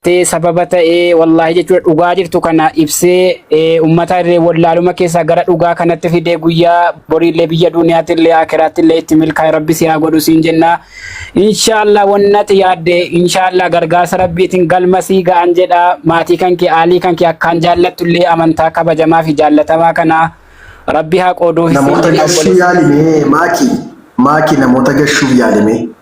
tee sababa ta'ee wallaahi jechuudha dhugaa jirtu kana ibsee eh, ummata irree wallaaluma keessaa gara dhugaa kanatti fidee guyyaa boriillee biyya duniyaatti illee akiraatti illee itti milkaa'e rabbi si haa godhu siin jenna inshaallah wannati yaadde inshaallah gargaarsa rabbiitiin galma sii ga'an jedha maatii kan kee aalii kan kee akkaan jaallattu illee amantaa kabajamaa fi jaallatamaa kana rabbi haa qooduuf siin namoota jedha gashuu obboleessa. yaalimee maaki maaki namoota gashuuf yaalimee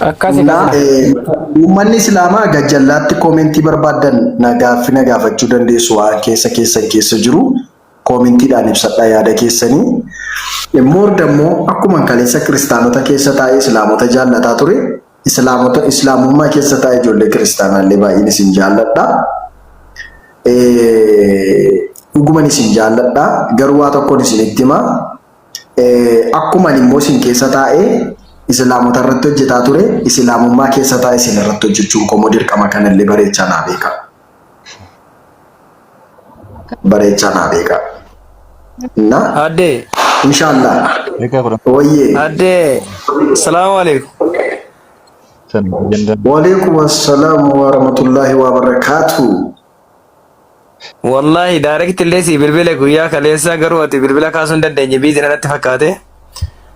Akkasi Naa, kana. eh, Uummanni Islaamaa gajjallaatti koomentii barbaaddan na gaaffi na gaafachuu dandeessu waan keessa keessan keessa jiru koomentiidhaan ibsadha yaada keessanii. Eh, Moor dammoo akkuma kaleessa kiristaanota keessa taa'ee Islaamota jaallataa ture Islaamota Islaamummaa keessa taa'ee ijoollee kiristaanaallee baay'een isin jaalladha. Eh, Dhuguman isin jaalladha garuu waa tokkoon isinitti hima. Akkuma ani immoo isin keessa taa'ee Isilaamota irratti hojjetaa ture, Isilaamummaa keessa taa'ee isin irratti hojjechuun koo immoo dirqama kana illee bareechaa naa beekaa. Bareechaa naa beekaa. Na, Adde, inshallah. Beekaa kudha Ooyyee. adde, salaamu alaikum. shan jandaan Waalaikum assalaam wa rahmatullahi wa barakaatuh. Wallaahi direct illee sii bilbile guyyaa kaleessaa garuu ati bilbila kaasuu hin dandeenye biizi natti fakkaate.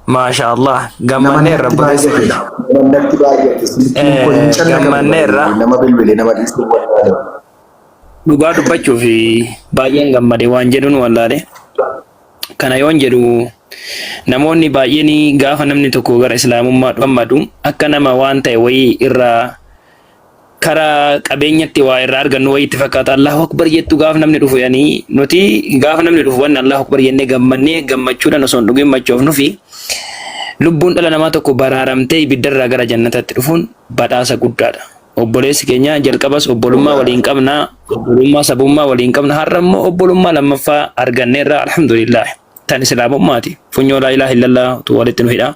Maashaa Allah gammanneerra buleessa kiyya. Namatti baay'ate silkiin koo hin calla kan Gammanneerra. baay'ate nama bilbile nama dhiisuu barbaade. Dhugaa dubbachuuf baay'een gammade waan jedhuun wallaale. Kana yoon jedhu namoonni baay'een gaafa namni tokko gara islaamummaa gammadu akka nama waan ta'e wayii irraa karaa qabeenyatti waa irraa argannu wayii itti fakkaata Allahu Akbar jettu gaaf namni dhufu yanii nuti gaaf namni dhufu wanni Allahu Akbar jennee gammannee gammachuudhaan osoo hin dhugin machoofnufi lubbuun dhala namaa tokko baraaramtee ibiddarraa gara jannataatti dhufuun badhaasa guddaadha. Obboleessi keenya jalqabas obbolummaa waliin qabna obbolummaa sabummaa waliin qabna har'a immoo obbolummaa lammaffaa arganneerra alhamdulillah tan islaamummaati funyoo laa ilaaha illallah tu walitti nu hidha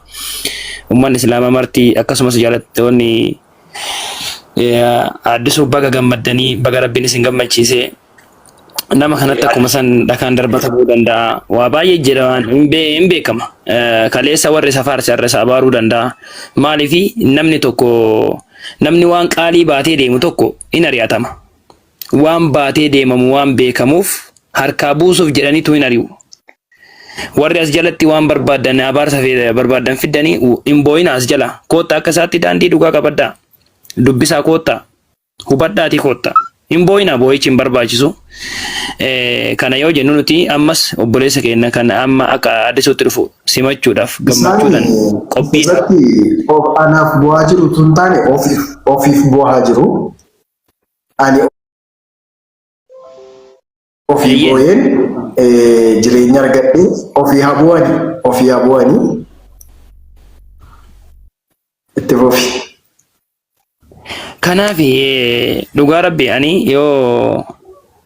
ummanni islaamaa marti akkasumas jaalattoonni Addisuu baga gammaddanii baga rabbiin isin gammachiise. Nama kanatti akkuma san dhakaan darbatamuu danda'a. Waa baay'ee jira waan hin bee- hin beekama. Eh, Kaleessa warri isa faarse har'a isa abaaruu danda'a. Maaliifi namni tokko namni waan qaalii baatee deemu tokko in ari'atama. waan baatee deemamu waan beekamuuf harkaa buusuuf jedhaniitu hin ari'u. Warri as jalatti waan barbaaddan abaarsa fe- barbaaddan fiddanii u- hin boo'ina as jala. Koottaa akka isaatti daandii dhugaa qabadhaa. Dubbisaa koottaa. Hubadhaatii koottaa. Hin boo'ina boo'ichi hin barbaachisu. Eh, Kana yoo jennu nuti ammas obboleessa keenya kan amma akka addisuutti dhufu simachuudhaaf Isaan gammachuudhaan qophiidha. asirratti of anaaf bu'aa jiru tun taane ofiif ofiif bu'aa jiru. Ani ofii Ayyee. booyeen eh, jireenya argadhe ofii habu'ani ofii habu'ani itti fufi. Kanaaf eh, dhugaa rabbi ani yoo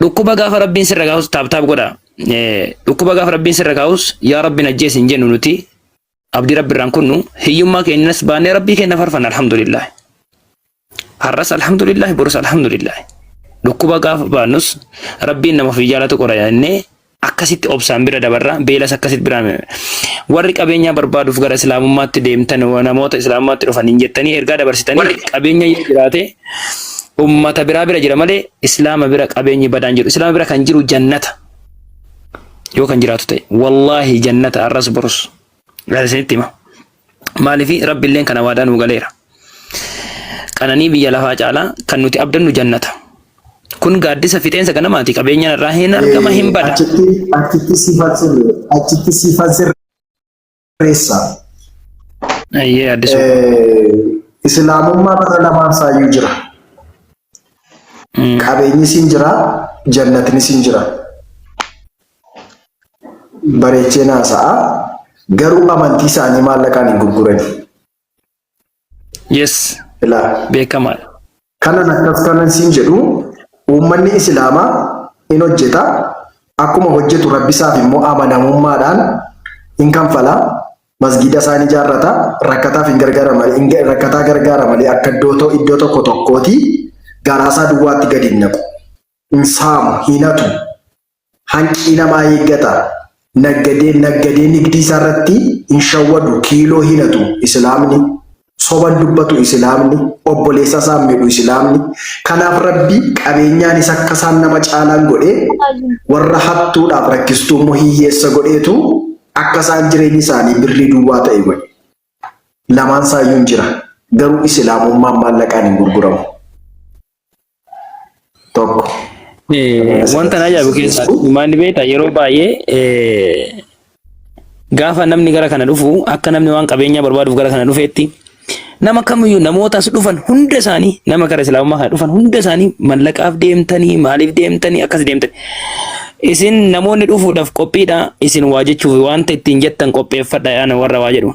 Dhukkuba gaafa rabbiin sirra kaa'us taap taap godha. Eh, Dhukkuba gaafa rabbiin sirra kaa'us yaa rabbiin ajjeesi hin jennu nuti abdii rabbi irraan kunnu hiyyummaa keenyas baannee rabbii keenya farfanna alhamdulillah. Har'as alhamdulillah borus alhamdulillah. Dhukkuba gaafa baannus rabbiin nama ofii jaalatu qora jennee akkasitti obsaan bira dabarra beelas akkasitti biraan warri qabeenyaa barbaaduuf gara islaamummaatti deemtan namoota islaamummaatti dhufan hin jettanii ergaa dabarsitanii qabeenya yoo jiraate ummata biraa bira jira malee islaama bira qabeenyi badaan jiru islaama bira kan jiru jannata yoo kan jiraatu ta'e wallaahi jannata arras borus gara isinitti hima Maaliif Rabbilleen kana waadaa nuu galeera. Qananii biyya lafaa caalaa kan nuti abdannu jannata. Kun gaaddisa fixeensa ganamaati. Qabeenyaan irraa hin argama hin bada. Achitti achitti siifan sirre achitti siifan sirreessa. Ayyee addisuu. Eh, Islaamummaa bara lamaan saayyuu jira. Qabeenyis hin jira, jannatnis hin jira. bareecheen haasa'a garuu amantii isaanii maallaqaan hin gurgurani. Yes. Ilaa. Beekamaadha. Kanan akkas kanan siin jedhu uummanni islaamaa in hojjeta akkuma hojjetu rabbisaaf immoo amanamummaadhaan in kanfala masgiida isaa ni jaarrata rakkataaf hin gargaara malee hin ga- rakkataa gargaara malee akka iddoo to- iddoo tokko tokkooti garaasaa duwwaatti gadi hin naqu hin saamu hin hatu Hanqii namaa eeggata. Naggadeen naggadee nigdii isaarratti hin shawwadu kiiloo hinatu isilaamni. Soban dubbatu isilaamni. Obboleessa isaan midhu isilaamni. Kanaaf rabbi qabeenyaan isa akka isaan nama caalaan godhee warra hattuudhaaf rakkistuu immoo hiyyeessa godheetu akka isaan jireenyi isaanii birrii duwwaa ta'e godhe. Lamaan isaayyuu hin jira. Garuu isilaamummaan maallaqaan hin gurguramu. tokko. Wanta na ajaa'ibu keessaa maal beektaa yeroo baay'ee gaafa namni gara kana dhufu akka namni waan qabeenyaa barbaaduuf gara kana dhufeetti nama kamiyyuu namoota as dhufan hunda isaanii nama gara islaamummaa kana dhufan hunda isaanii mallaqaaf deemtanii maaliif deemtanii akkas deemtanii isin namoonni dhufuudhaaf qophiidha isin waa jechuuf wanta ittiin jettan qopheeffadha yaana warra waa jedhu.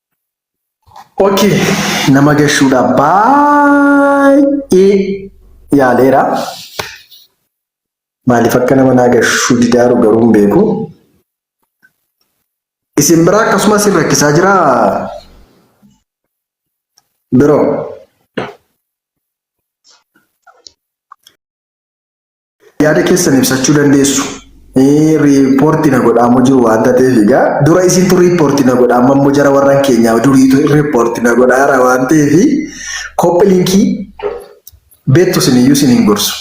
Ok nama gashuudha baay'ee yaaleera maaliif akka nama naa gashuu didaaru garuu hin beeku isin biraa akkasumas hin rakkisaa jira biroo Yaada keessan ibsachuu dandeessu. Riippoortii na godhaamu jiru waan ta'eef egaa dura isintu riippoortii na godha amma immoo jara warran keenyaa duriitu riippoortii na godhaara waan ta'eef kophi linkii beektu siniyyuu sin hin gorsu.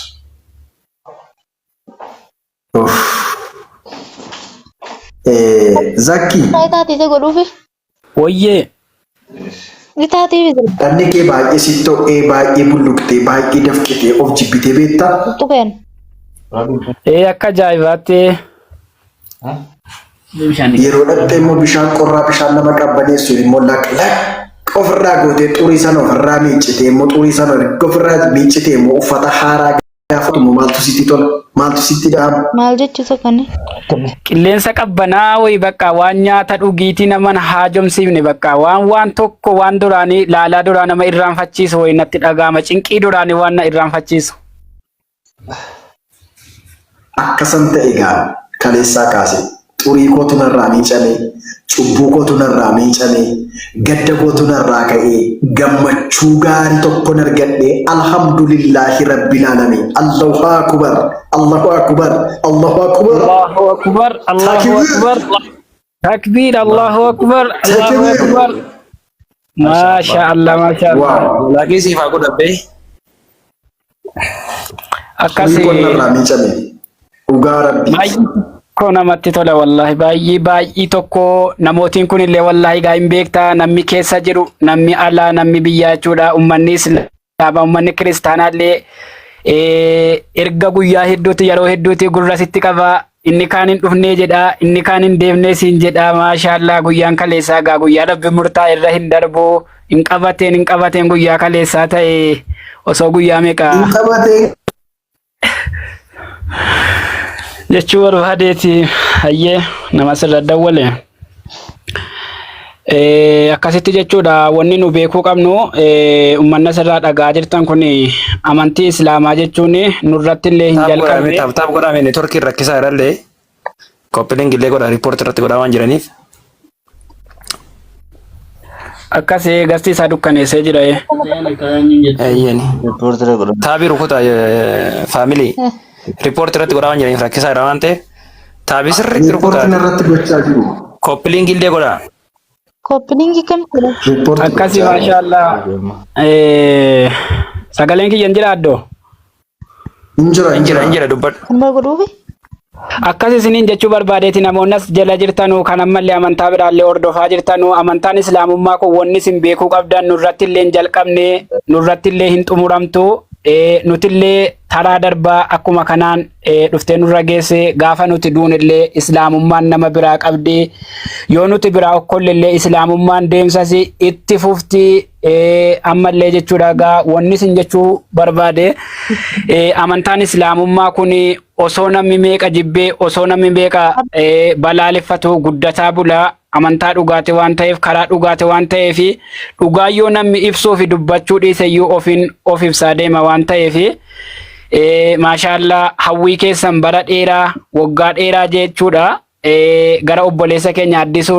Zakkii. Faayidaa ta'e godhuufi. Woyyee! Bitaa TV sirba. Dhanni kee baay'ee sitti ho'ee baay'ee bulluqxee baay'ee dafqitee of jibbitee beektaa? Qulxuqeen. Ee akka ajaa'ibaatti Yeroo dhaqxee immoo bishaan qorraa bishaan nama qabbaneessu immoo laq laq ofirraa gootee xurii sana ofirraa miiccitee immoo xurii sana erga ofirraa miiccitee immoo uffata haaraa gaafatu moo maaltu sitti tola? Maaltu sitti dha'ama? Maal jechuusa kana? Qilleensa qabbanaa wayi bakka waan nyaata dhugiitii naman haajomsiifne bakka waan waan tokko waan duraanii laalaa duraa nama irraanfachiisu wayi natti dhagaama cinqii duraanii waan na irraanfachiisu. Akkasan ta'e egaa kaleessaa kaasee Xurii kootu narraa miicame, cubbuu kootu narraa miicame, gadda kootu narraa ka'ee, gammachuu gaari tokkon argadhe Alhamdulillahi Rabbil Alami Allahu Akubar Allahu Akubar Allahu Akubar Allahu Akbar, Allahu Akbar. Takbiir, Allahu Akbar, Allahu Akbar. Maasha Allah, maasha Allah. Waaw. Laakii siif haa godhabbee. Akkas Kun qonna irraa miicame. Dhugaa rabbi. baay'ee tokko namatti tola wallaahi baay'ee baay'ee tokko namootiin kun illee wallaahi gaa hin beekta namni keessa jiru namni alaa namni biyyaa jechuudha ummanni islaamaa ummanni kiristaanaa illee eh, erga guyyaa hedduuti yeroo hedduuti gurra sitti qaba Inni kaan hin dhufnee jedhaa, inni kaan hin deemnee siin jedhaa. Maashaallaa guyyaan kaleessaa gaa guyyaa rabbi murtaa irra hin darbu. Hin qabateen hin qabateen guyyaa kaleessaa ta'e osoo guyyaa meeqa Hin qabatee jechuu barbaadeeti. Hayyee nama sirra dawwale. Akkasitti jechuudha wanni nu beekuu qabnu ummanni asirraa dhagaa jirtan kun amantii islaamaa jechuun nurratti illee hin jalqabne. Taap taap godhaa mee networkiin rakkisaa irrallee koppilingi illee godhaa riippoortii irratti godhaa waan jiraniif. Akkas gasti isaa dukkaneessee jira. Eeyyani. Riippoortii irra godhaa. Taabii rukutaa faamilii. Riippoortii irratti godhaa waan jiraniif rakkisaa irraa waan ta'eef taabii sirriitti Riippoortiin rukutaa irratti gochaa jiru. koppiliingii illee godhaa. Koppiliingi kan godha. Riippoortii Akkasi gochaa jiru. maashaallah. Eh, Sagaleen kiyya hin jira addoo. Hin jira Hin jira hin jira dubbadhu. Amma godhuufi. Akkas isiniin jechuu barbaadeeti namoonni as jala jirtanu kan ammallee amantaa biraallee hordofaa jirtanu amantaan islaamummaa kun wanni isin beekuu qabdan nurratti illee hin jalqabne nurratti illee hin xumuramtu eh, nuti illee taraa darbaa akkuma kanaan eh, dhuftee nurra geesse gaafa nuti duunillee islaamummaan nama biraa qabdi yoo nuti biraa okkollellee islaamummaan deemsas itti fufti eh, ammallee jechuudha gaa wanni isin jechuu barbaade eh, amantaan islaamummaa kun osoo namni meeqa jibbee osoo namni meeqa eh, balaaleffatu guddataa bulaa Amantaa dhugaati waan ta'eef karaa dhugaati waan ta'eef dhugaa yoo namni ibsuu fi dubbachuu dhiise iyyuu ofiin of ibsaa deema waan ta'eef maashaallaa hawwii keessan bara dheeraa waggaa dheeraa jechuudha gara obboleessa keenya addisuu